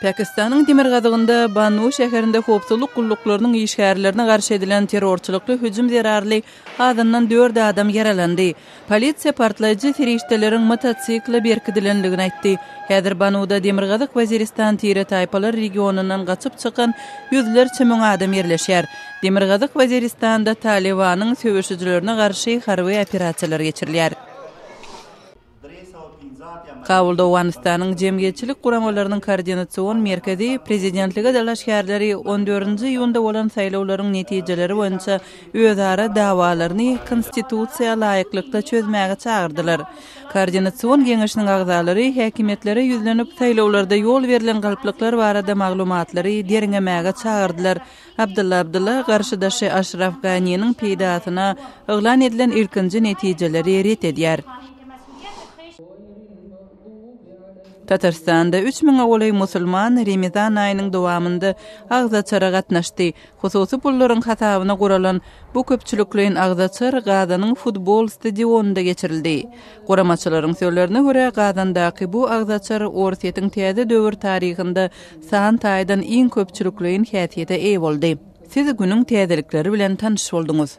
Pakistanyň demirgazygynda Bannu şäherinde howpsuzlyk gulluklarynyň işgärlerine garşy edilen terrorçylykly hüjüm zerarly azyndan dört adam ýaralandy. Polisiýa partlaýjy serişdeleriň motosikle berkidilendigini aýtdy. Häzir Banuda Demirgazyk Waziristan tire-taýpalar regionyndan gaçyp çykan ýüzlerçe müň adam ýerleşýär. Demirgazyk Weziristanda Talybanyň söweşijilerine garşy harby operasiýalar geçirilýär. Kabulda Owganystanyň jemgyýetçilik guramalarynyň koordinasion merkezi prezidentlige dalaşgärleri on dördünji iýunda bolan saýlawlaryň netijeleri boýunça özara dawalaryny konstitusiýa laýyklykda çözmäge çagyrdylar. Koordinasion geňeşiniň agzalary häkimiýetlere ýüzlenip, saýlawlarda ýol berlen galplyklar barada maglumatlary derňemäge çagyrdylar. Abdylla Abdylla garşydaşy Aşraf Ganiniň peýdasyna yglan edilen ilkinji netijeleri ret edýär. Tatarstanda üç müňe golaý musulman Remezan aýynyň dowamynda agzaçara gatnaşdy. Hususy pullaryň hasabyna guralan bu köpçülikleýin agzaçar Gazanyň futbol stadionynda geçirildi. Guramaçylaryň sözlerine görä, Gazandaky bu agzaçar Orsýetiň täze döwür taryhynda san taýdan iň köpçülikleýin häsiýete eýe boldy. Siz günüň täzelikleri bilen tanyş bolduňyz.